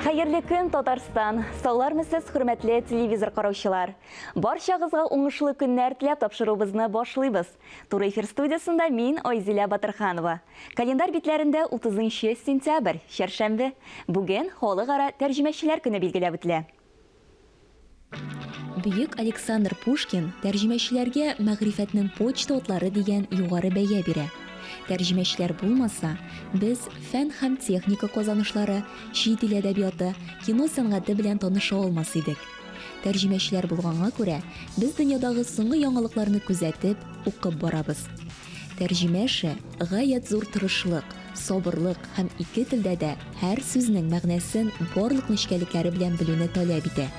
Хәерле көн, Татарстан! Саулармы сез, хөрмәтле телевизор караучылар! Барчагызга уңышлы көннәр теләп тапшыруыбызны башлыйбыз. Туры эфир студиясендә мин Айзилә Батырханова. Календарь битләрендә 30 сентябрь, чәршәмбе. Бүген халыкара тәрҗемәчеләр көне билгеләп үтелә. Бөек Александр Пушкин тәрҗемәчеләргә мәгърифәтнең почта утлары дигән югары бәя бирә. Тәрҗемәчеләр булмаса, без фән һәм техника казанышлары, чит ил әдәбияты, кино сәнгате белән таныша алмас идек. Тәрҗемәчеләр булганга күрә, без дөньядагы соңгы яңалыкларны күзәтеп, укып барабыз. Тәрҗемәче, гаять зур тырышлык, сабырлык һәм ике телдә дә һәр сүзнең мәгънәсен барлык нечкәлекләре белән белүне таләп итә.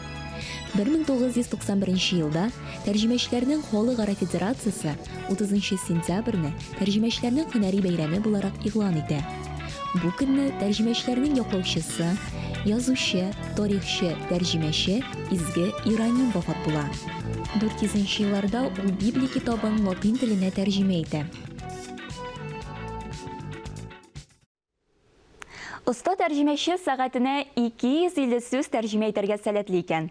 1991 елда Тәрҗемәчеләрнең халыкара федерациясе 30 сентябрьне Тәрҗемәчеләрнең һөнәри бәйрәме буларак игълан итә. Бу көнне тәрҗемәчеләрнең яклаучысы, язучы, тарихчы, тәрҗемәче Изге Ираним вафат була. 400 елларда ул Библия китабын латин теленә тәрҗемә итә. Оста тәрҗемәче сәгатенә 250 сүз тәрҗемә итәргә сәләтле икән.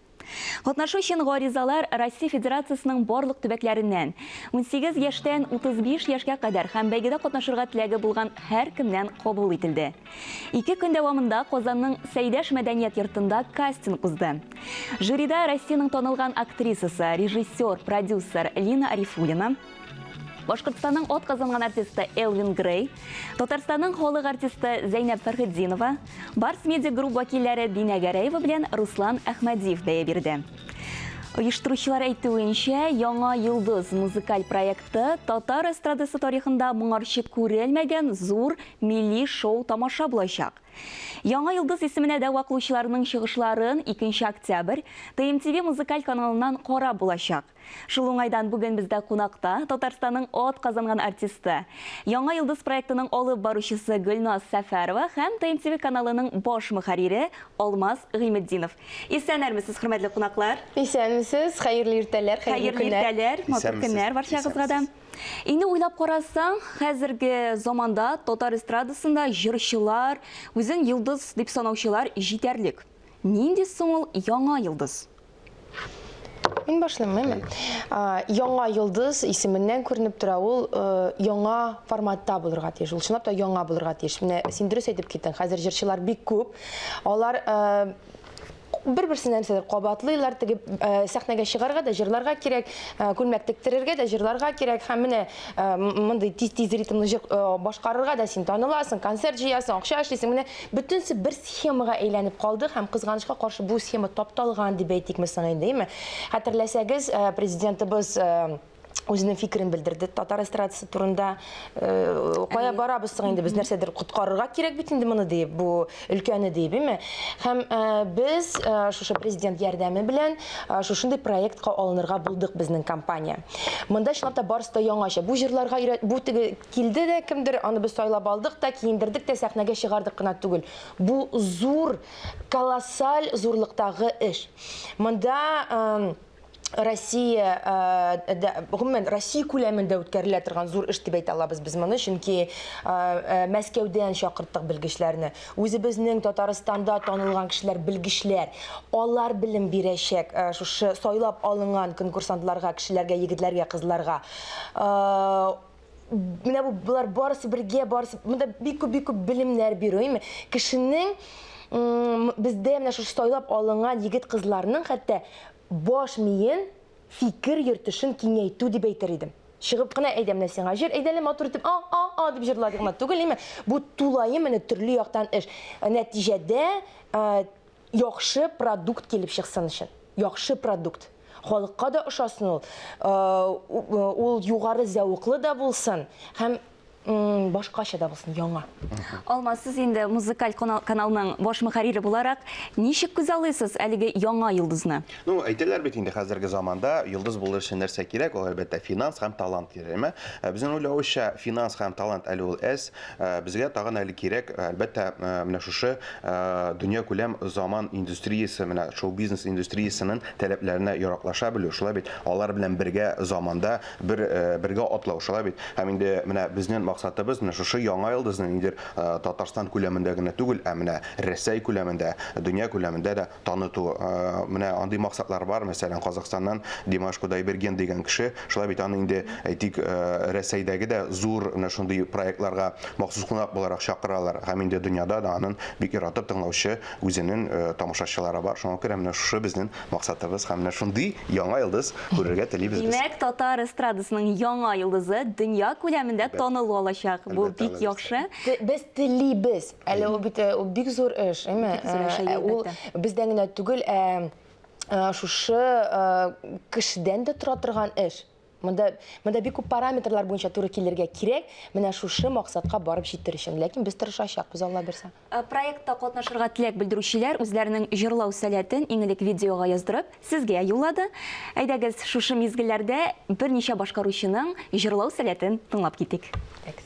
Катнашу өчен гаризалар Россия Федерациясенең барлык төбәкләреннән, унсигез яшьтән утыз биш яшькә кадәр һәм бәйгедә катнашырга теләге булган һәркемнән кабул ителде. Ике көн дәвамында Казанның Сәйдәш мәдәният йортында кастинг узды. Жюрида Россиянең танылган актрисасы, режиссер, продюсер Лина Арифуллина, Башкортстанның от казанган артисты Элвин Грей, Татарстанның холык артисты Зәйнәп Фәрхетдинова, Барс Медиа групп вәкилләре Динә Гәрәева белән Руслан Әхмәдиев бәя бирде. Оештыручылар әйтүенчә, Яңа йолдыз музыкаль проекты татар эстрадасы тарихында моңарчы күрелмәгән зур милли шоу тамаша булачак. Яңа йолдыз исеменә дә ваклучыларның чыгышларын 2 октябрь ТМТВ музыкаль каналыннан карап булачак. Шул уңайдан бүген бездә кунакта, Татарстанның ат казанган артисты, Яңа йолдыз проектының алып баручысы Гөлназ Сәфәрова һәм ТНТВ каналының баш мөхәррире Алмаз Гыйметдинов. Исәнермесез, хөрмәтле кунаклар! Исәнмесез, хәерле иртәләр, хәерле көннәр! Хәерле иртәләр, матур көннәр барчагызга да! Инде уйлап карасаң, хәзерге заманда татар эстрадасында җырчылар, үзен йолдыз дип санаучылар җитәрлек. Нинди соң ул яңа йолдыз? Мин башлыйммы? Яңа йолдыз исеменнән күренеп тора, ул э, яңа форматта булырга тиеш. Ул чынлап та яңа булырга тиеш. Менә син дөрес әйтеп киттең, хәзер җырчылар бик күп. Алар э, бер берсенә нәрсәдер кабатлыйлар теге э, сәхнәгә чыгарга да җырларга кирәк э, күлмәк тектерергә дә җырларга кирәк һәм менә э, мондый тиз тиз ритмлы җыр башкарырга да син таныласың концерт җыясың акча эшлисең менә Бөтенесе бер схемага әйләнеп калды һәм кызганычка каршы бу схема тапталган дип әйтик без соң инде, әйме? Хәтерләсәгез, э, президентыбыз э, үзенең фикерен белдерде татар эстрадасы турында э, кая Әйе. барабыз соң инде без нәрсәдер коткарырга кирәк бит инде моны диеп бу өлкәне диеп име һәм э, без э, шушы президент ярдәме белән э, шушындый проектка алынырга булдык безнең компания монда чынлап та барысы да яңача бу җырларга өйрәт бу теге Килде дә кемдер, аны без сайлап алдык та, киендердек тә, сәхнәгә чыгардык кына түгел. Бу зур, колоссаль зурлыктагы эш. Монда Россия, гомумән, Россия күләмендә үткәрелә торган зур эш дип әйтә алабыз без моны, чөнки Мәскәүдән чакырттык белгечләрне. Үзебезнең Татарстанда танылган кешеләр, белгечләр. Алар белем бирәчәк шушы сайлап алынган конкурсантларга, кешеләргә, егетләргә, кызларга. менә бу болар барысы бергә барысы монда бик күп бик күп белемнәр бирү әйме кешенең бездә менә шушы сайлап алынган егет кызларның хәтта баш миен фикер йөртешен киңәйтү дип әйтер идем чыгып кына әйдә менә сиңа җыр әйдә әле матур итеп а а а дип җырлады гына түгел әйме бу тулаем менә төрле яктан эш нәтиҗәдә яхшы продукт килеп чыксын өчен. Яхшы продукт. Халыкка да ошасын ул. Ул югары зәвыклы да булсын һәм башкача да булсын, яңа. Алма, сез инде музыкаль каналның баш мөхәррире буларак, ничек күз алыйсыз әлеге яңа йолдызны? Ну, әйтәләр бит инде хәзерге заманда йолдыз булыр өчен нәрсә кирәк? Ул әлбәттә финанс һәм талант кирәк, әмма безнең уйлавыча, финанс һәм талант әле ул әз, Безгә тагын әле кирәк, әлбәттә, менә шушы дөньякүләм заман индустриясе, менә шоу-бизнес индустриясенең таләпләренә яраклаша белү, шулай бит? Алар белән бергә заманда бер, бергә атлау, шулай бит? Һәм инде менә безнен максатыбыз, менә шушы яңа йолдызны ниндидер Татарстан күләмендә генә түгел, ә менә Рәсәй күләмендә, дөнья күләмендә дә таныту. Менә андый максатлар бар, мәсәлән, Казахстаннан Димаш Кудайберген дигән кеше, шулай бит аны инде, әйтик, Рәсәйдәге дә зур менә шундый проектларга махсус кунак буларак чакыралар. Һәм инде дөньяда да анын бик яратып тыңлаучы үзенен тамашачылары бар. Шуңа күрә менә шушы безнен максатыбыз һәм менә шундый яңа йолдыз күрергә телибез без. Димәк, татар эстрадасының яңа йолдызы дөнья күләмендә танылу алачак. Бу бик яхшы. Без телибез. Әле ул бит ул бик зур эш, әйме? Ул бездән генә түгел, ә шушы кешедән дә тора торган эш. Монда монда бик күп параметрлар буенча туры килергә кирәк. Менә шушы максатка барып җитер өчен. Ләкин без тырышачакбыз, Алла бирсә. Проектта катнашырга теләк белдерүчеләр үзләренең җырлау сәләтен иң элек видеога яздырып, сезгә юллады. Әйдәгез, шушы мизгелләрдә берничә башкаручының җырлау сәләтен тыңлап китик. Экс.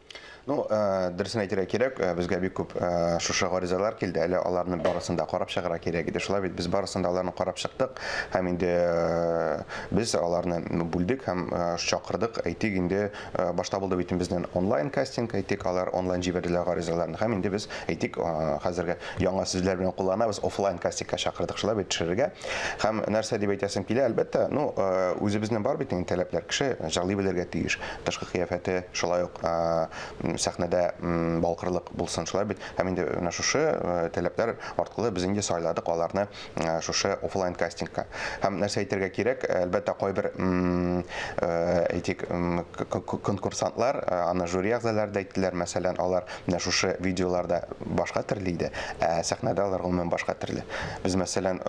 Ну, э, дөресен әйтергә кирәк, э, безгә бик күп э, шушы гаризалар килде. Әле аларны барысын да карап чыгарга кирәк иде. Шулай бит без барысын да аларны карап чыктык һәм инде без аларны бүлдек һәм чакырдык. Әйтик, инде башта булды бит безнең онлайн кастинг, әйтик, алар онлайн җибәрделәр гаризаларын һәм инде без әйтик, хәзерге яңа сүзләр белән кулланабыз, офлайн кастингка чакырдык. Шулай бит төшерергә. Һәм нәрсә дип әйтәсем килә, әлбәттә, ну, үзебезнең бар бит инде таләпләр. Кеше җырлый белергә тиеш, тышкы кыяфәте, шулай ук сәхнәдә балкырлык булсын, шулай бит. Һәм инде менә шушы таләпләр аркылы без инде сайладык аларны шушы офлайн кастингка. Һәм нәрсә әйтергә кирәк, әлбәттә, кайбер әйтик, конкурсантлар, аны жюри әгъзалары да әйттеләр, мәсәлән, алар менә шушы видеоларда башка төрле иде, ә сәхнәдә алар гомумән башка төрле. Без, мәсәлән,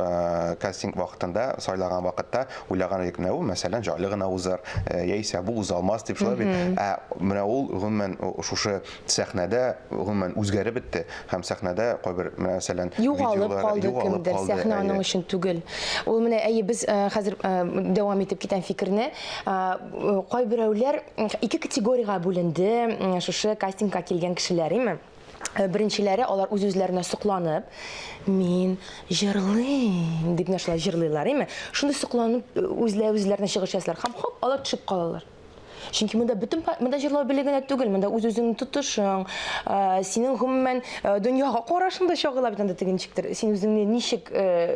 кастинг вакытында, сайлаган вакытта, Уйлаган идек, менә ул, мәсәлән, җайлы гына узар, яисә бу уза алмас дип шулай бит. Ә менә ул, гомумән, шушы сәхнәдә, гомумән, үзгәреп бетте. Һәм сәхнәдә кайбер, мәсәлән, видеолар югалып калды. Югалып калды кемдер, сәхнә аның өчен түгел. Ул менә, әйе, без хәзер дәвам итеп китәм фикерне. Кайберәүләр ике категориягә бүленде шушы кастингка килгән кешеләр, име? Э, беренчеләре алар үз-үзләренә сокланып, мин җырлыйм дип нәрсә җырлыйлар, әйме? Шундый сокланып э, үзләре үзләренә чыгыш ясалар һәм хоп, алар төшеп калалар. Чөнки монда бөтен монда җырлау беле генә түгел, монда үз-үзеңне тотышың, э, синең гомумән дөньяга карашың да чагыла бит анда тегенчектер. Син үзеңне ничек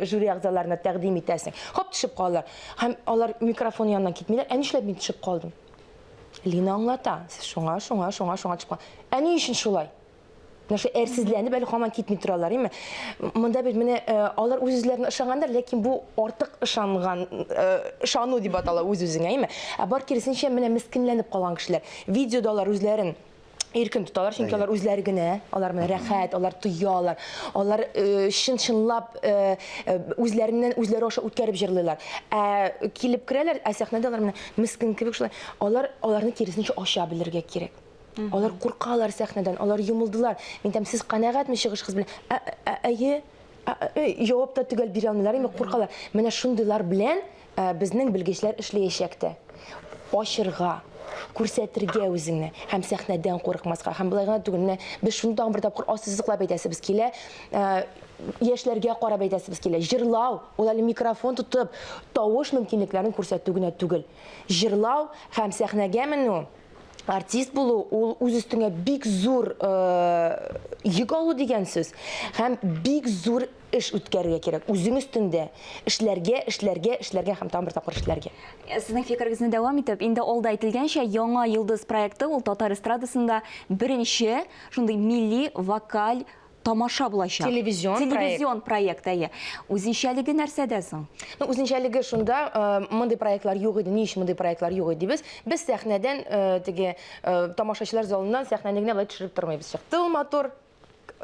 жюри әгъзаларына тәкъдим итәсең? Хоп, төшеп калалар. Һәм алар микрофон янына китмиләр. Ә нишләп мин төшеп калдым? Лина аңлата. Сез шуңа, шуңа, шуңа, шуңа чыкма. Ә ни өчен шулай? Менә шул әрсезләнеп әле һаман китми торалар, име? Монда бит менә э, алар үз-үзләренә ышангандар, ләкин бу артык ышанган, ышану э, дип атала үз-үзеңә, име? Ә бар киресенчә менә мескенләнеп калган кешеләр. Видеода алар үзләрен иркен тоталар, чөнки алар үзләре генә, алар менә рәхәт, алар тоялар, алар э, чын-чынлап э, э, үзләреннән үзләре аша үткәреп җырлыйлар. Ә килеп керәләр, ә сәхнәдә алар менә мескин кебек шулай. Алар аларны киресенчә ача белергә кирәк. Алар куркалар сәхнәдән, алар юмылдылар. Мин там сез канәгатьме чыгышыгыз белән? Ә- ә- Әйе. Ә- ә- Җавап та төгәл бирә алмыйлар, инде куркалар. Менә шундыйлар белән Ә безнең белгечләр эшләячәк тә. Ачырга, күрсәтергә үзеңне һәм сәхнәдән курыкмаска. Һәм болай гына түгел, менә без шуны тагын бер тапкыр ассызыклап әйтәсебез килә. Ә, яшьләргә карап әйтәсебез килә. Җырлау, ул әле микрофон тотып, тавыш мөмкинлекләрен күрсәтү генә түгел. Җырлау һәм сәхнәгә менү артист булу ул үз өстеңә бик зур э, йөк алу дигән сүз һәм бик зур эш үткәрергә кирәк, үзең өстендә эшләргә, эшләргә, эшләргә һәм тагын бер тапкыр эшләргә. Э, сезнең фикерегезне дәвам итеп, инде алда әйтелгәнчә, яңа йолдыз проекты ул татар эстрадасында беренче шундый милли вокаль тамаша булачак. Телевизион, Телевизион проект, әйе. Үзенчәлеге нәрсәдә соң? Ну, үзенчәлеге шунда, э, мондый проектлар юк иде, ни өчен мондый проектлар юк иде без? Без сәхнәдән, э, теге, э, тамашачылар залыннан сәхнәне генә былай төшереп тормыйбыз. Чыкты ул матур,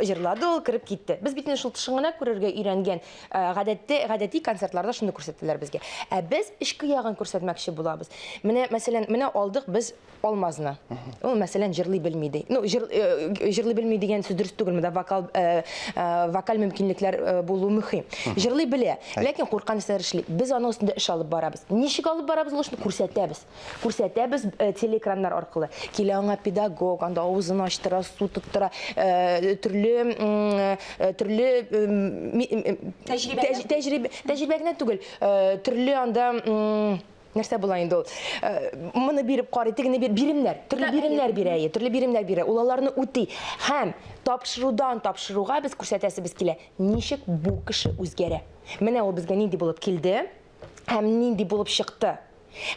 җырлады ул, кереп китте. Без бит инде шул тышын гына күрергә өйрәнгән. Э, гадәттә, гадәти концертларда шуны күрсәттеләр безгә. Ә без эчке ягын күрсәтмәкче булабыз. Менә, мәсәлән, менә алдык без Алмазны. Ул, мәсәлән, җырлый белми ди. Ну, җыр, э, җырлый белми дигән сүз дөрес түгел, монда вокал, э, э, вокаль мөмкинлекләр э, булу мөһим. Җырлый белә, ләкин курккан нәрсәләр эшли. Без аның өстендә эш алып барабыз. Ничек алып барабыз ул эшне күрсәтәбез. Күрсәтәбез телеэкраннар аркылы. Килә аңа педагог, анда авызын ачтыра, су тоттыра, төрле төрле тәҗрибә тәҗрибә генә түгел, төрле анда нәрсә була инде ул э, моны биреп карый тегене бир биремнәр төрле биремнәр бирә әйе төрле биремнәр бирә ул аларны үти һәм тапшырудан тапшыруга без күрсәтәсебез килә ничек бу кеше үзгәрә менә ул безгә нинди булып килде һәм нинди булып чыкты?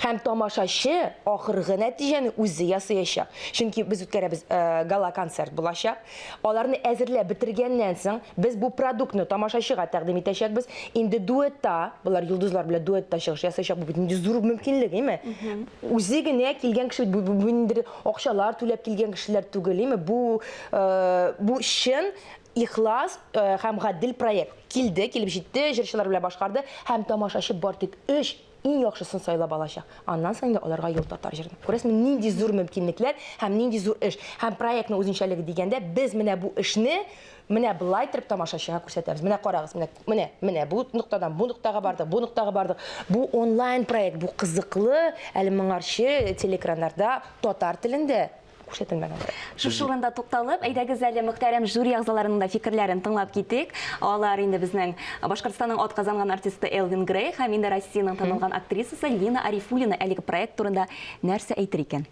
Һәм тамашачы ахыргы нәтиҗәне үзе ясыячак. Чөнки без үткәрәбез э, гала концерт булачак. Аларны әзерләп бетергәннән соң без бу продуктны тамашачыга тәкъдим итәчәкбез. Инде дуэтта, болар йолдызлар белән дуэтта чыгыш ясаячак. Бу бит нинди зур мөмкинлек, име? Үзе генә килгән кеше бу, бу, бу ниндидер акчалар түләп килгән кешеләр түгел, име? Бу э, бу чын Ихлас һәм гадел проект. Килде, килеп җитте, җырчылар белән башкарды һәм тамашачы бар тик өч иң яхшысын сайлап алачак. Аннан соң инде аларга юл татар җырны. Күрәсезме, нинди зур мөмкинлекләр һәм нинди зур эш. Һәм проектның үзенчәлеге дигәндә, без менә бу эшне менә болай торып тамашачыга күрсәтәбез. Менә карагыз, менә, менә, менә бу ноктадан бу ноктага бардык, бу ноктага бардык. Бу онлайн проект, бу кызыклы, әле моңарчы телеэкраннарда татар телендә күрсәтелмәгән бер. Шушы урында тукталып, әйдәгез әле мөхтәрәм жюри әгъзаларының да фикерләрен тыңлап китик. Алар инде безнең Башкортстанның ат казанган артисты Элвин Грей һәм инде Россиянең танылган актрисасы Лина Арифуллина әлеге проект турында нәрсә әйтер икән?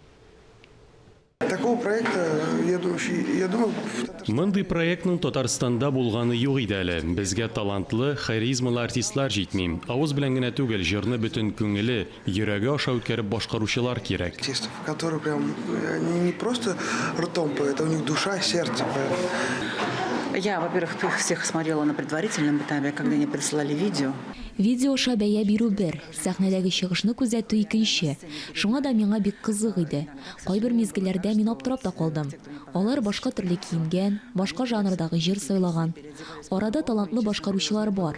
Такого проекта, я думаю, я думаю, в Татарстане... Мондый проектның Татарстанда булганы юк иде әле. Безгә талантлы, харизмалы артистлар җитми. Авыз белән генә түгел, җырны бөтен күңеле, Йөрәге аша үткәреп башкаручылар кирәк. Артистов, которые прям они не просто ртом поют, а у них душа, сердце поют. Я, во-первых, их всех смотрела на предварительном этапе, когда они присылали видео. Видео аша бәя бирү бер, сәхнәдәге чыгышны күзәтү икенче. Шуңа да миңа бик кызык иде. Кайбер мизгелләрдә мин аптырап та калдым. Алар башка төрле киенгән, башка жанрдагы җыр сайлаган. Арада талантлы башкаручылар бар.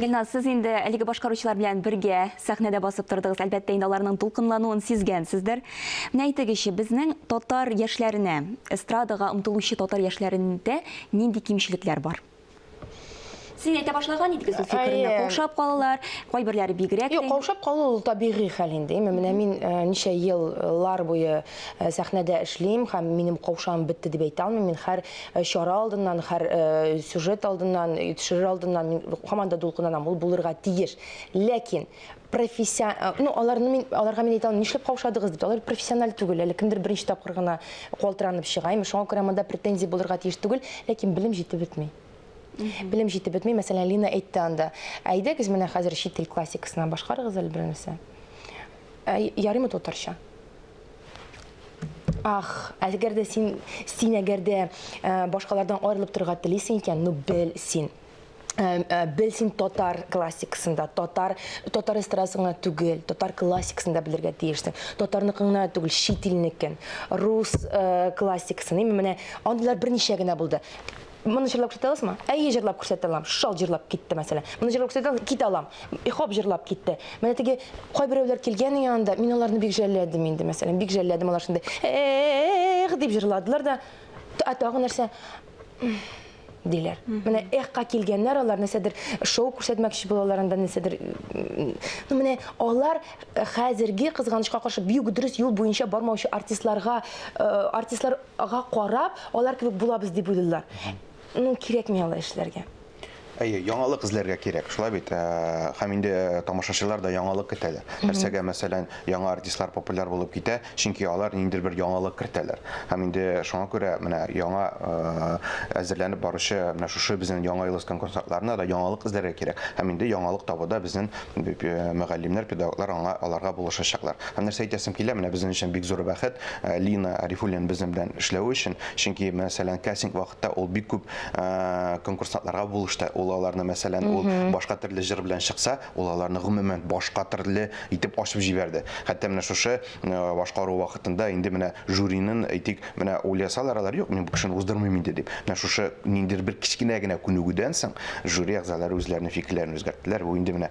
Гөлназ, сез инде әлеге башкаручылар белән бергә сәхнәдә басып тордыгыз. Әлбәттә, инде аларның дулкынлануын сизгәнсездер. Менә әйтегезче, безнең татар яшьләренә, эстрадага омтылучы татар яшьләрендә нинди кимчелекләр бар? Син әйтә башлаган идегез ул фикерне. Әйе. Каушап калалар, кайберләре бигрәк. Юк, каушап калу ул табигый хәл инде. Менә мин э, ничә еллар буе э, сәхнәдә эшлим һәм минем каушам бетте дип әйтә алмыйм. Мин һәр Э, чара алдыннан һәр э, сюжет алдыннан э, төшерер алдыннан мин һаман да дулкынланам ул булырга тиеш ләкин профессион ну аларны мин аларга мин әйтә алмыйм нишләп каушадыгыз дип алар профессиональ түгел әле кемдер беренче тапкыр гына калтыранып чыга имеш шуңа күрә монда претензия булырга тиеш түгел ләкин белем җитеп бетми белем җитеп бетми мәсәлән лина әйтте анда әйдәгез менә хәзер чит тел классикасына башкарыгыз әле бернәрсә ярыймы татарча Ах, әгәр дә син, син әгәр дә башкалардан аерылып торырга телисең икән, ну бел син. Бел син татар классикасында, татар татар эстрадасына түгел, татар классикасында белергә тиешсең. Татарныкыңна түгел, чит илнекен, рус классикасын. Именно менә андыйлар берничә генә булды. Моны җырлап күрсәтә аласызмы? Әйе, җырлап күрсәтә алам. Шал җырлап китте, мәсәлән. Моны җырлап күрсәтә алам, китә алам. Ихоп җырлап китте. Менә теге кайберәүләр килгән янында, мин аларны бик жәлләдем инде, мәсәлән, бик жәлләдем алар шундый. Эх, дип җырладылар да, ә тагы нәрсә? диләр. Менә эхка килгәннәр алар нәрсәдер шоу күрсәтмәкче булалар анда нәрсәдер. Ну менә алар э, хәзерге кызганычка каршы бик дөрес юл буенча бармаучы артистларга э, артистлар га карап, алар кебек булабыз дип уйлыйлар. Ну, кирәкми алай эшләргә. Әйе, яңалык эзләргә кирәк, шулай бит. Э, һәм инде э, тамашачылар да яңалык көтәләр. Нәрсәгә, мәсәлән, яңа артистлар популяр булып китә, чөнки алар ниндидер бер яңалык кертәләр. Һәм инде шуңа күрә менә яңа э, әзерләнеп баручы менә шушы безнең яңа елыскан концертларына да яңалык эзләргә кирәк. Һәм инде яңалык табуда безнең мөгаллимнәр, педагоглар аңа, аларга булышачаклар. Һәм нәрсә әйтәсем килә, менә безнең өчен бик зур бәхет Лина Арифуллина безнең белән эшләве өчен, чөнки, мәсәлән, кастинг вакытта ул бик күп конкурсантларга булышты, ул аларны, мәсәлән, ул башка төрле җыр белән чыкса, ул аларны, гомумән, башка төрле итеп ачып җибәрде. Хәтта менә шушы башкару вакытында инде менә жюринын, әйтик, менә ул ясалар, алар юк, мин бу кешене уздырмыйм инде дип. Менә шушы ниндидер бер кечкенә генә күнегүдән соң жюри әгъзалары үзләренең фикерләрен үзгәрттеләр. Бу инде менә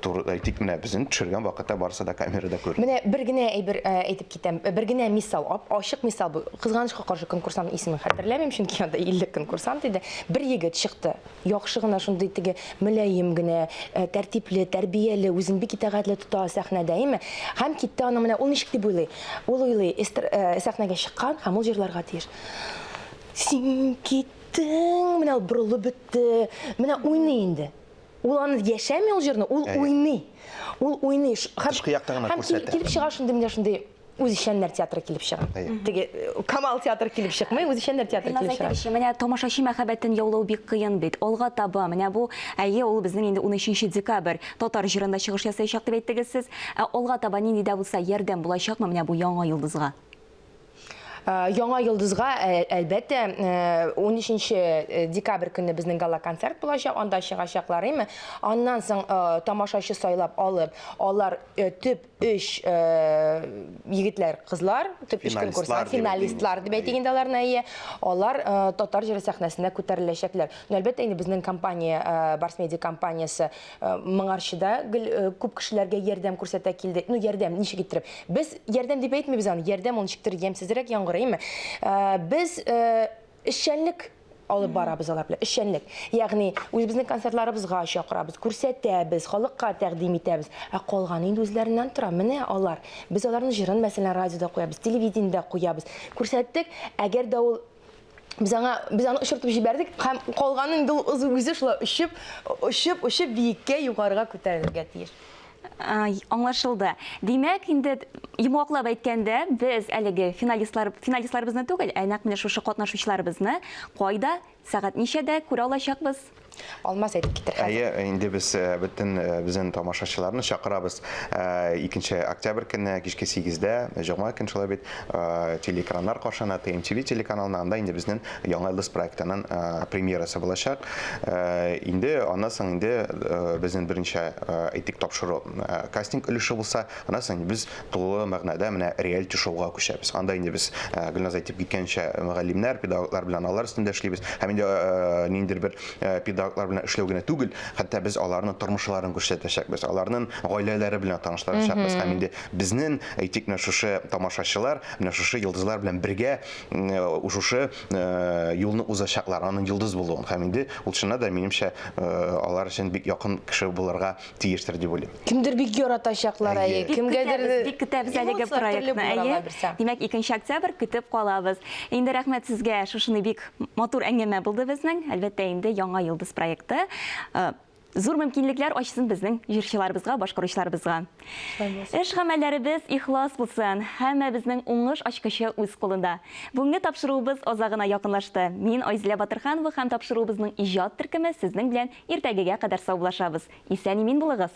туры, әйтик, менә безнең төшергән вакытта барысы да камерада күренде. Менә бер генә әйбер әйтеп китәм, бер генә мисал, ап-ачык мисал бу. Кызганычка каршы, конкурсантның исемен хәтерләмим, чөнки анда 50 конкурсант иде. Бер егет чыкты. Яхшы гына шундый теге мөлаем генә, тәртипле, тәрбияле, үзен бик итәгатьле тота сәхнәдә, име? Һәм китте аның менә ул ничек дип уйлый? Ул уйлый, эстр, э, сәхнәгә чыккан һәм ул җырларга тиеш. Син киттең, менә ул борылып бетте, менә уйный инде. Ул аны яшәми ул җырны, ул Әйе. уйный. Ул уйный. Ш- Һәм, Тышкы якта гына һәм кил- күрсәтә. килеп чыга шундый менә шундый үзешчәннәр театры килеп чыга. Теге э, Камал театры килеп чыкмый, үзешчәннәр театры килеп чыга. Әйтегезче, менә тамашачы мәхәббәтен яулау бик кыен бит. Алга таба, менә бу, әйе, ул безнең инде 13 декабрь татар җырында чыгыш ясаячак дип әйттегез сез. Ә алга таба нинди дә булса ярдәм булачакмы менә бу яңа йолдызга? Э, яңа йолдызга э, әлбәттә 13 э, декабрь көнне безнең гала концерт булачак анда чыгачаклар әйме аннан соң тамашачы сайлап алып алар төп өч егетләр, кызлар, төп өч конкурслар, финалистлар дип әйтик инде аларны, әйе, алар татар җыры сәхнәсенә күтәреләчәкләр. Ну, әлбәттә, инде безнең компания, Барс Медиа компаниясе моңарчы да күп кешеләргә ярдәм күрсәтә килде. Ну, ярдәм, ничек иттереп? Без ярдәм дип әйтмибез аны, ярдәм ул ничектер ямьсезрәк яңгырыймы? Без эшчәнлек алып барабыз алар белән эшчәнлек ягъни үзебезнең концертларыбызга чакырабыз күрсәтәбез халыкка тәкъдим итәбез ә калганы инде үзләреннән тора менә алар без аларның җырын мәсәлән радиода куябыз телевидениедә куябыз күрсәттек әгәр дә ул без аңа без аны очыртып җибәрдек һәм калганы инде ул үзе шулай очып очып очып биеккә югарыга күтәрелергә тиеш Аңлашылды. Димәк, инде йомгаклап әйткәндә, без әлеге финалистлар, финалистларыбызны түгел, ә нәкъ менә шушы катнашучыларыбызны кайда, сәгать ничәдә күрә алачакбыз? Алмаз әйтеп китер хәзер. Әйе, инде без бөтен безнең тамашачыларны чакырабыз. Икенче октябрь көнне кичке сигездә, җомга көн шулай бит, телеэкраннар каршына, TMTV телеканалына, анда инде безнең Яңа Йолдыз проектының премьерасы булачак. Инде аннан соң инде безнең беренче әйтик тапшыру кастинг өлеше булса, аннан соң без тулы мәгънәдә менә реалити шоуга күчәбез. Анда инде без Гөлназ әйтеп киткәнчә, мөгаллимнәр, педагоглар белән алар өстендә эшлибез. Һәм инде ниндидер бер педагоглар белән эшләү генә түгел, хәтта без аларның тормышларын күрсәтәчәкбез, аларның гаиләләре белән таныштырачакбыз. Һәм инде безнең әйтик менә шушы тамашачылар менә шушы йолдызлар белән бергә Э, шушы э, юлны узачаклар аның йолдыз булуын һәм инде ул чыннан да минемчә э, алар өчен бик якын кеше булырга тиештер дип уйлыйм кемдер бик яратачаклар әйе кемгәдер бик көтәбез әлеге проектны әйе димәк икенче октябрь көтеп калабыз инде рәхмәт сезгә шушыны бик матур әңгәмә булды безнең әлбәттә инде яңа йолдыз проекты Зур мөмкинлекләр ачсын безнең җырчыларыбызга, башкаручыларыбызга. Эш гамәлләребез ихлас булсын. Һәммәбезнең уңыш ачкычы үз кулында. Бүгенге тапшыруыбыз азагына якынлашты. Мин Айзилә Батырханова һәм тапшыруыбызның иҗат төркеме сезнең белән иртәгегә кадәр саубуллашабыз. Исән-имин булыгыз!